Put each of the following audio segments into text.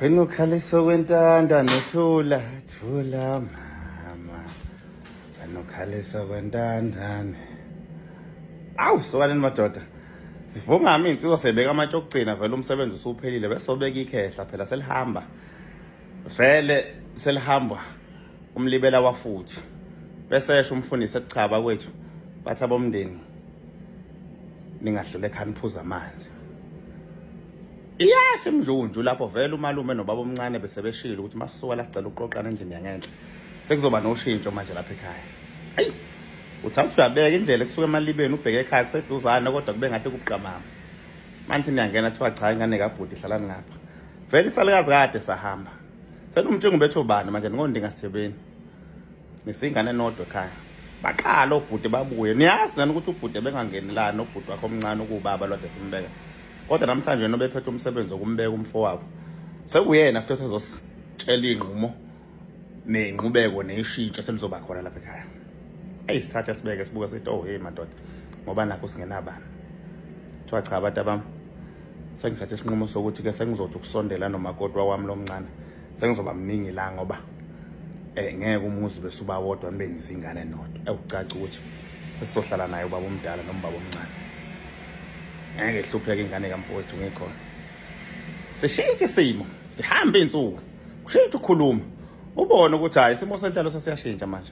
Wena ukhalisa okwentanda nethula thula mama. Wena ukhalisa okwentanda. Awu sokaneni madoda. Sivuma ami insizwa sebeka amatshe okugcina vele umsebenzi usuphelile bese obeka ikhehla phela selihamba. Vele selihamba umlibela wafuthi. Bese esho umfundisi ekuchaba kwethu bathi abomndeni ningahlule khani phuza amanzi. Yes emjunju lapho vele umalume nobaba omncane bese beshilo ukuthi masisuka la sicela uqoqana endlini yangenhla. Sekuzoba noshintsho manje lapha ekhaya. Ayi. Uthanda uyabeka indlela kusuka emalibeni ubheke ekhaya kuseduzane kodwa kube ngathi kubuqamama. Manje niyangena thiwa cha ingane kabhuti hlalani ngapha. Vele isalikazi kade sahamba. Senomtshingo bethu bani manje ngondinga sithebeni. Nisingane nodwa ekhaya. Baqala obhuti babuye. Niyazi nani ukuthi ubhuti bengangeni la nobhuti wakho omncane ukubaba lwade simbeka. kodwa namhlanje yena obephethe umsebenzi wokumbeka umfowabo sekuyena futhi esezositshela iy'nqumo ney'nqubeko neyishintsho selizoba khona lapha ekhaya eyi sithathe sibeke sibuke sithi oh heyi madoda ngoba nakho singenabani kuthiwa cha abantu abam sengithathe isinqumo sokuthi-ke sengizothi ukusondela nomakoti wawami lo mncane sengizoba mningi la ngoba eh ngeke umuzi bese uba wodwa nibe nizingane nodwa ewucaca ukuthi sizohlala naye ubaba omdala noma ubaba omncane ngeke hlupheke ingane kamfowethu ngikhona sishintshe isimo sihambe insuku kushintshe ukhuluma ubone ukuthi hayi isimo senhlalo sesiyashintsha manje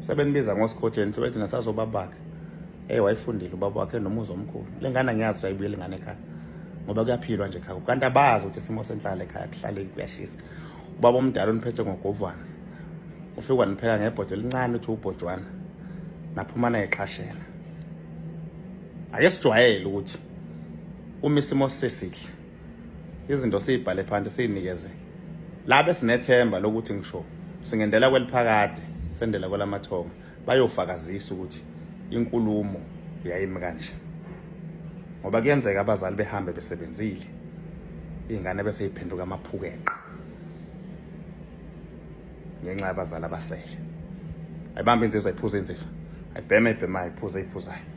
sebenibiza ngosikhotheni sebethi nasazobabakhe ey wayifundile ubaba wakhe nomuzi omkhulu le ngane angiyazi ukuthi ayibuyele ingane ekhaya ngoba kuyaphilwa nje ekhaya kanti abazi ukuthi isimo senhlala ekhaya kuhlaleki kuyashisa ubaba omdala oniphethe ngogovana ufike wanipheka ngebhodo elincane uthi ubhojwana naphuma naye qashela ake sijwayele ukuthi uma isimo sesihle izinto siyibhale phansi siyinikeze labe sinethemba lokuthi ngisho singendela kweliphakade sendela kwelamathonga bayofakazisa ukuthi inkulumo yayimi kanje ngoba kuyenzeka abazali behambe besebenzile iy'ngane bese yiphenduka amaphukeqa ngenxa yabazali abasele ayibambe inzizo ayiphuza inzizo ayibheme ayibhemayo ayiphuze ayiphuzayo